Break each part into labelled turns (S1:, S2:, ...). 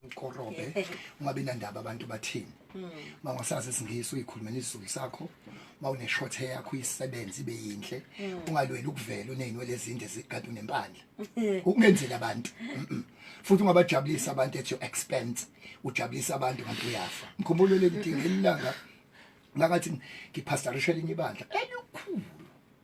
S1: uqorobe ungabi nandaba abantu bathini mangasazi hmm. isingisi uyikhulumela isizulu sakho mawune short hair yakho isebenze ibe yinhle hmm. ungalweli ukuvela uneyinwele ezinde zigade unempandla ukungenzela abantu futhi ungabajabulisa abantu at your expense ujabulisa abantu kanti uyafa mkhumbulo leli ding elilanga ngathi ngiphastorisha elinye ibandla elikhulu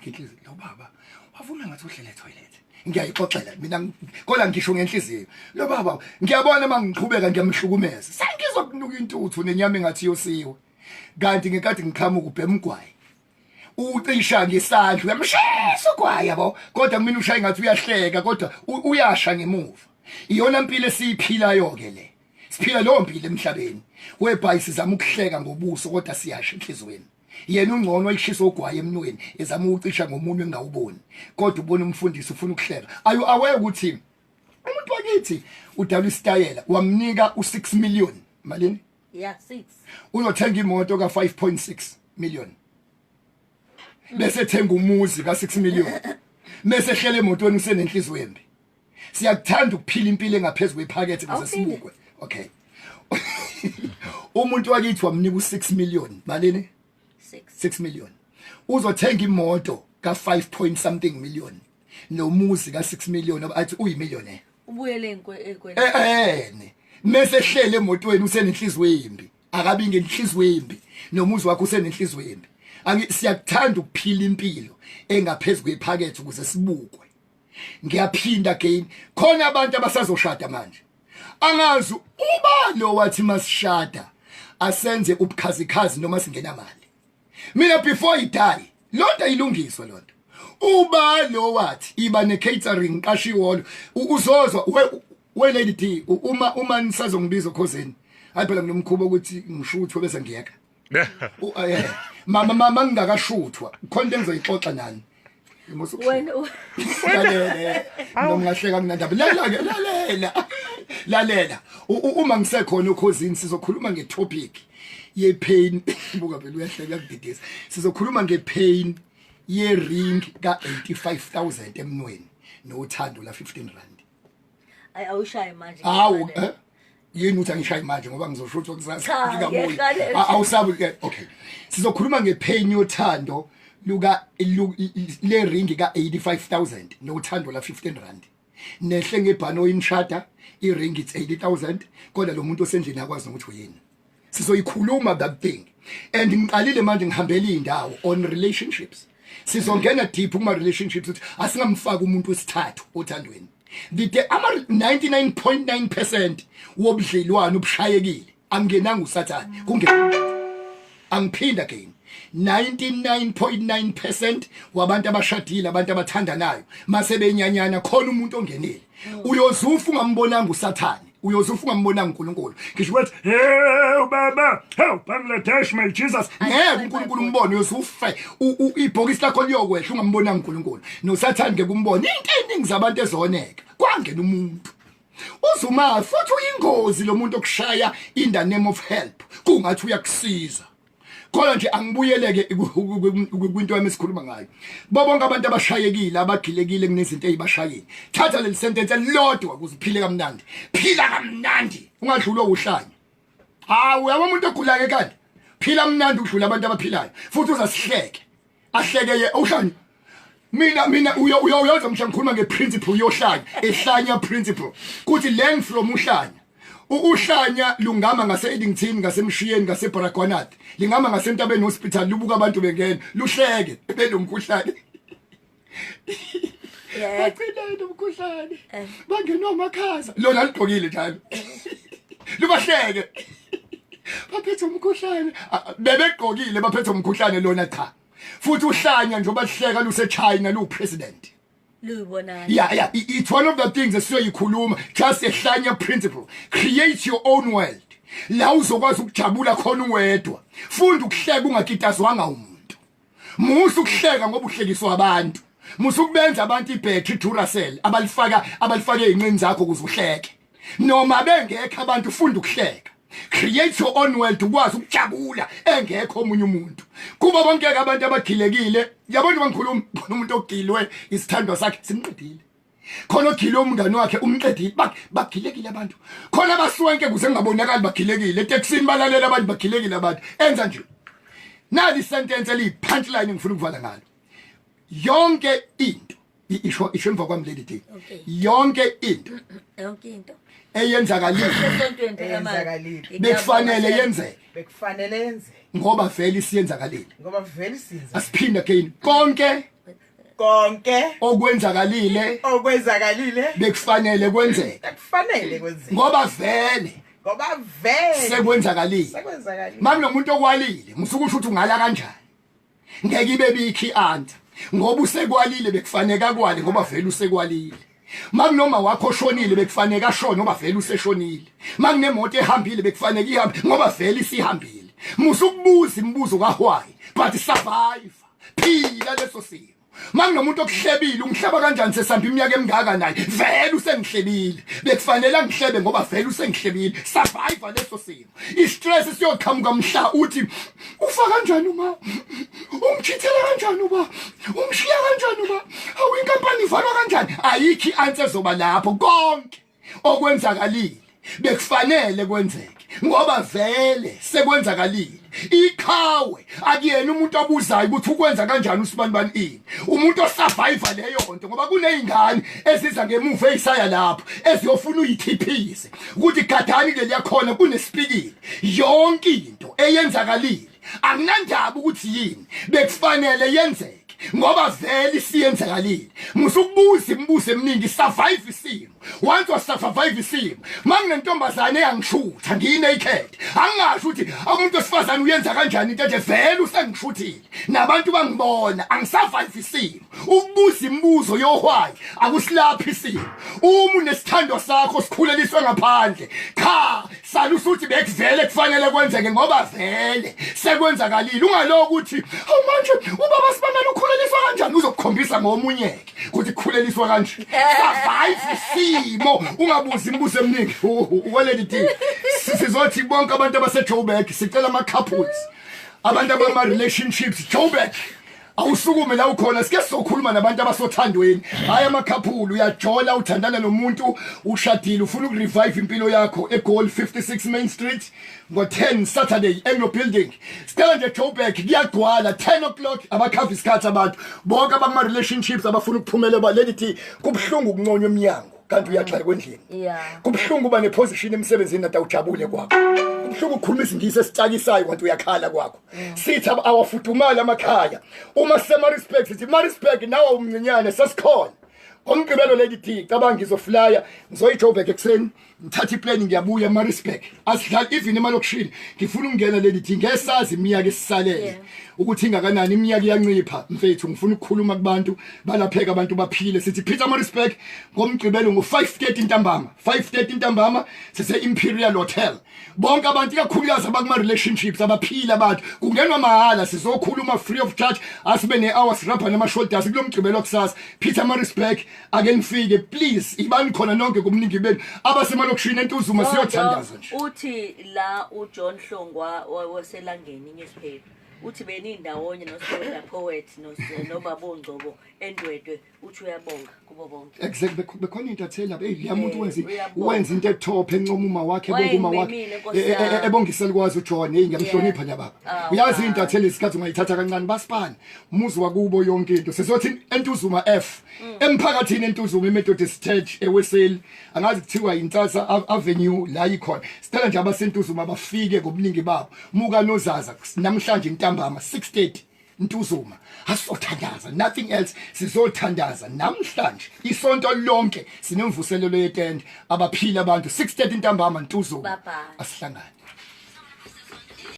S1: ngenhliziyo lo baba wavuma ngathi uhlele toilet ngiyayixoxela mina kola ngisho ngenhliziyo lo baba ngiyabona uma ngiqhubeka ngiyamhlukumeza sengizokunuka intuthu nenyama engathi yosiwe kanti ngekade ngiqhamuka ubhema ugwayi ucisha ngesandla uyamshisa ugwayi yabo kodwa mina ushaye ngathi uyahleka kodwa uyasha ngemuva iyona impilo esiyiphilayo ke le siphila leyo mpilo emhlabeni webhayi sizama ukuhleka ngobuso kodwa siyasha enhlizweni yena ungcono ayishisa ogwaye emnweni ezama ukucisha ngomunwe engawuboni kodwa ubona umfundisi ufuna ukuhleka ayu aware ukuthi umuntu wakithi udala isitayela wamnika u6 million malini yeah 6
S2: uyothenga imoto
S1: ka 5.6 million bese thenga umuzi ka 6 million bese hlele emotweni usenenhliziyo embi siyakuthanda ukuphila impilo engaphezulu kwephakethe kuze sibukwe okay umuntu wakithi wamnika u6 million malini 6 6 million uzothenga imoto ka 5 point something million nomuzi ka 6 million athi uyi millionaire ubuyele
S2: enkweni eh, eh, eh mese
S1: hlele emotweni usenenhliziyo embi akabi ngenhliziyo embi nomuzi wakho usenenhliziyo embi angi siyakuthanda ukuphila impilo engaphezulu kwephakethe ukuze sibukwe ngiyaphinda again khona abantu abasazoshada manje angazi ubani owathi masishada asenze ubukhazikhazi noma singena mali mina before i die lonto ilungiswa lonto uba lo wathi iba ne catering qasha iholo uzozwa we lady D uma uma nisazongibiza okhozeni hayi phela mina umkhubo ukuthi ngisho ukuthi bese ngiyeka U- ah, yeah. mama mama ngingakashuthwa khona into engizoyixoxa nani wena
S2: u- lalela
S1: noma ngahleka kunandaba lalela-ke lalela lalela U- u- uma ngisekhona okhozini sizokhuluma ngetopic yepain buka phela uyahleka kudidisa sizokhuluma ngepain ye-ring ka-85 000 emnweni nothando la-15 rand
S2: Ay awushaye manje.
S1: Awu eh yini uthi angishaye manje ngoba ngizosho ukuthi kusasa ngikabuyi. Awusabu eh, okay. Sizokhuluma ngepain yothando luka le ring ka 85000 nothando la 15 rand. Nehle ngebhano imshada i ring it's 80000 kodwa lo muntu osendlini akwazi ukuthi uyini. sizoyikhuluma that thing and ngiqalile manje ngihambela indawo on relationships sizongena deep kuma relationships ukuthi asingamfaka umuntu wesithathu othandweni the day ama 99.9% wobudlelwano obushayekile angenanga usathane kunge angiphinda again 99.9% wabantu abashadile abantu abathandanayo mase benyanyana khona umuntu ongenile uyozufa ungambonanga usathane uyoze ufuka umbonanga uNkulunkulu ngisho ukuthi hey ubaba hey Pamela Dash my Jesus ngeke uNkulunkulu umbone uyoze ufe ibhokisi lakho liyokwehla ungambonanga uNkulunkulu nosathane ngeke umbone into eningi zabantu ezoneka kwangena umuntu uzuma futhi uyingozi lo muntu okushaya in the name of help kungathi uyakusiza khona nje angibuyeleke kwinto yami esikhuluma ngayo bobonke abantu abashayekile abagilekile kunezinto ezibashayile thatha leli sentence elilodwa ukuze uphile kamnandi phila kamnandi ungadlulwa uhlanya hawu yabo umuntu ogulayo kanti phila mnandi udlula abantu abaphilayo futhi uzasihleke ahleke ye uhlanya mina mina uyo uyo uyoza mhla ngikhuluma ngeprinciple uyohlanya ehlanya principle kuthi learn from uhlanya Ukuhlanya lungama ngase Eddington ngasemshiyeni ngase Baragwanat lingama ngase Ntabeni hospital lubuka abantu bengena luhleke belomkhuhlane bacineni umkhuhlane eh. bangenwa amakhaza lona ligqokile njalo libahleke baphethe umkhuhlane bebegqokile baphethe umkhuhlane lona cha futhi uhlanya nje obahleka luseChina lupresident luyibonana yeah yeah it's one of the things esiyoyikhuluma just a hlanya principle create your own world la uzokwazi ukujabula khona uwedwa funda ukuhleka ungakitazwanga umuntu musa ukuhleka ngoba uhlekiswa abantu musa ukubenza abantu ibhetri duracell abalifaka abalifake inqini zakho ukuze uhleke noma bengekho abantu funda ukuhleka create your own world ukwazi ukujabula engekho omunye umuntu kuba bonke abantu abagilekile yabona bangikhuluma umuntu ogilwe isithandwa sakhe simqedile khona ogile umngane wakhe umqedile bagilekile abantu khona abaswenke kuze ngabonakali bagilekile eteksini balalela abantu bagilekile abantu enza nje nali sentence eli punchline ngifuna ukuvala ngalo yonke into isho isho emva kwami leli day yonke into yonke into eyenzakalile bekufanele yenzeke bekufanele yenzeke ngoba vele isiyenzakalile ngoba vele siyenza asiphinde again konke konke okwenzakalile okwenzakalile bekufanele kwenzeke bekufanele kwenzeke ngoba vele ngoba vele sekwenzakalile sekwenzakalile manje nomuntu okwalile musuke usho ukuthi ungala kanjani ngeke ibe bikhi anta ngoba usekwalile bekufaneka kwale ngoba vele usekwalile makunoma wakho oshonile bekufanele ashone ngoba vele useshonile makunemoto ehambile bekufanele ihambe ngoba vele isihambile musa ukubuza imibuzo kahwayi but survive phila leso simo makunomuntu okuhlebile ungihleba kanjani sesihamba iminyaka emingaka naye vele usengihlebile bekufanele angihlebe ngoba vele usengihlebile survive leso simo istress siyoqhamuka mhla uthi ufa kanjani uma umkhithela kanjani uba umshiya kanjani uba awu inkampani ivalwa kanjani ayikho i-answer ezoba lapho konke okwenzakalile bekufanele kwenzeke ngoba vele sekwenzakalile iqhawe akuyena umuntu abuzayo ukuthi ukwenza kanjani usibanibani ini umuntu osurviva leyo nto ngoba kuney'ngane eziza ngemuva ey'saya lapho eziyofuna uyithiphisa ukuthi gadani leliya khona kunesipikile yonke into eyenzakalile akunandaba ukuthi yini bekufanele yenzeke ngoba vele isiyenzakalile musukubuza imibuzo eminingi survive isimo once wa survive isimo manginentombazane eyangishutha ngine ikhethe angasho ukuthi umuntu wesifazane uyenza kanjani into enje vele usengishuthile nabantu bangibona angisurvive isimo ukubuza imibuzo yohwayi akusilaphi isimo uma unesithando sakho sikhuleliswe ngaphandle cha sala usuthi bekuvele kufanele kwenzeke ngoba vele sekwenzakalile ungaloku ukuthi awu manje ubaba sibamela ukhuleliswa kanjani uzokukhombisa ngomunyeke ukuthi kukhuleliswa kanje survive isimo ungabuzi imibuzo eminingi weledi sizothi bonke abantu abasejoburg sicela ama-couples abantu abama relationships joburg awusukume la ukhona sike sizokhuluma nabantu abasothandweni hayi amakhaphulu uyajola uthandana nomuntu ushadile ufuna ukurevive impilo yakho egoal 56 main street ngo-10 saturday anglo building sicela nje joburg kuyagcwala 10 o'clock abakhava isikhathi abantu bonke abama-relationships abafuna ukuphumela balelithi kubuhlungu ukunconywa emnyango kanti uyagxekwa endlini yeah kubuhlungu uba neposition emsebenzini nata ujabule kwakho kubuhlungu ukukhuluma isingisi esicakisayo kanti uyakhala kwakho mm. sithi awafudumali amakhaya uma sema respect sithi ma respect nawe umncinyane sesikhona ngomgqibelo lady d cabanga ngizoflya ngizoyijoburg ekuseni ngithatha iplane ngiyabuya emarisburg asidlali even emalokushini ngifuna ukungena lady d ngesazi iminyaka esisalele yeah. ukuthi ingakanani iminyaka iyancipha mfethu ngifuna ukukhuluma kubantu balapheka abantu baphile sithi Peter Marisburg ngomgqibelo ngo5:30 ntambama 5:30 ntambama sise Imperial Hotel bonke abantu ikakhulukazi abakuma relationships abaphila abantu kungenwa mahala sizokhuluma free of charge asibe ne hours rapper nama shoulders kulomgqibelo kusasa Peter Marisburg ake nifike please ibani khona nonke kumningi benu abasemalokishini entuzuma siyothandaza nje uthi la
S2: uJohn Hlongwa waselangeni ngesinye isiphepho uthi benindawonye nosoda poet nobabongcobo endwedwe uthi uyabonga kubo bonke exactly
S1: bekhona into athela hey leya muntu eh, wenza wenza into etop encoma uma wakhe bonke uma wakhe eh, eh, ebongisela kwazi uJohn hey ngiyamhlonipha nya baba ah, uyazi into athela isikhathi ungayithatha kancane basipani muzi wakubo yonke into sizothi entuzuma F mm. emphakathini entuzuma emethodist church eweseli angazi kuthiwa yintsatsa avenue la yikhona sicela nje abasentuzuma bafike ngobuningi babo muka nozaza namhlanje intambama 6:30 ntuzuma asizothandaza nothing else sizothandaza namhlanje isonto lonke sinemvuselelo yetende abaphila abantu 6:30 intambama ntuzuma asihlangane